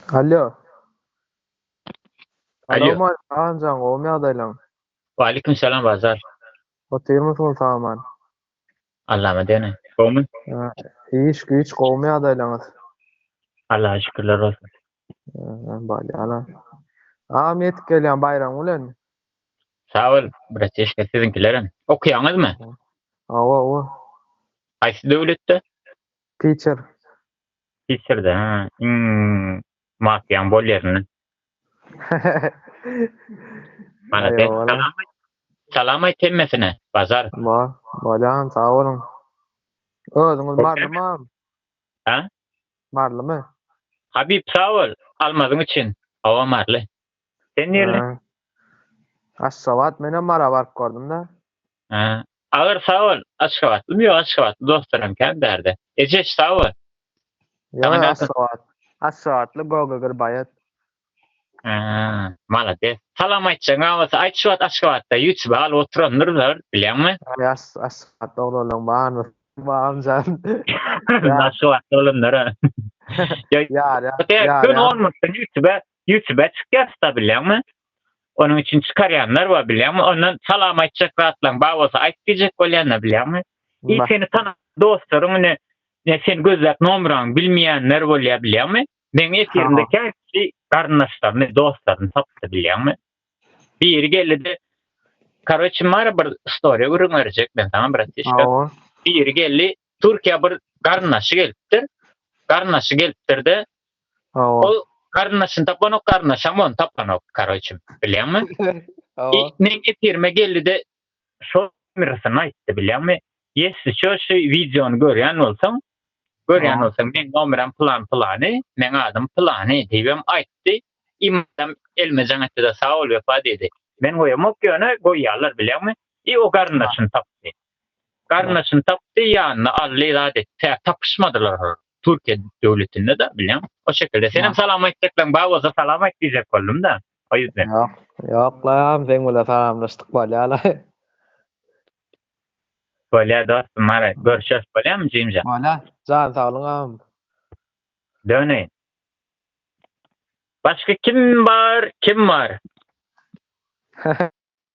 Alýo. Alýo. Salam aýt Agamjan gowmy ýagdaýlaň? Waleýkim salam Bazar. Otyrmysyň saman? Allama degeni. Gowmy? Iş güýç gowmy ýagdaýlaňyz? Allaha şükürler bolsun. Ýa barýala. Agam ýetip gelýän baýram bilen. Sag bol bratişka siziňkilerem. Okýaňyzmy? Hawa owa. Haýsy döwletde? Pitcher. Sissirde ha iň mafiýaň bol ýerinde. Malades salam aýt. Salam aýt hemmesine. Bazar. Bolýan sag boluň. Özüňiz marylymy? Hä? Marylymy? Habib sag bol almazyň üçin. Hawa maryly. Sen nirli? Aşgabat menem mara baryp gördüm-de. Agyr sag bol aşgabatlymy ýok aşgabatly dostlaram kän bärde ejeş sag bol. Aşgabatly gogagir baýat. Malades. Salam aýtjagyňa bolsa aýt şu wagt aşgabatda ýutube galyp oturandyr zor bilýäňmi. Aşgabatda oglanlaň barmy Bagamjan. Aşgabatda oglanlara. Ýarýar. Ýarýar. Ýutube Ýutube çykýar tuta bilýäňmi? Onuň üçin çykarýanlar bar bilýäňmi? Ondan salam aýtjak zatlaň bar bolsa aýt diýjek bolýanlar bilýäňmi? Ýa seni tanan dostlaryň ine ine seni gözläp nomraňy bilmeýänler bolýar bilýäňmi? Meň efirimde kä kişi garyndaşlaryny, dostlaryny tapdy bilýäňmi? Biri geldi-de Karoçe mara bir story gürrüň berjek men saňa bratişka. Biri geldi Türkiýä bir garyndaşy gelipdir. Garyndaşy gelipdir-de, ol garyndaşyny tapanok, garyndaşam ony tapanok, karoçe, bilýäňmi? Men efirime geldi-de, şol nomerasyny aýtdy, bilýäňmi? Ýesli şu şu wideony görýän bolsaň, görýän bolsaň, meň nomeram pylan-pylany, meň adym pylany diýibem aýtdy. Imadam elime jaň etdi-de, sag bol, Wepa diýdi. Men goýamok, ýöne goýýarlar, bilýäňmi? I o garyndaşyny tapdy. Garyndaşyny tapdy, ýanyna aldy, zat etdi. Tä tapyşmadylar olar. Türkiýe döwletinde-de, bilýäň. O şekilde. Senem salam aýtjaklaryň bar bolsa salam aýt diýjek boldum-da. O ýüzden. Ýok. Ýok lan, seň bilen salamlaşdyk bolýa-la. Bolýa dostum, haraý, görşeris bolýamy jigimjan? Bolýa. Jan saglyňam. Döneýin. Başga kim bar, kim bar?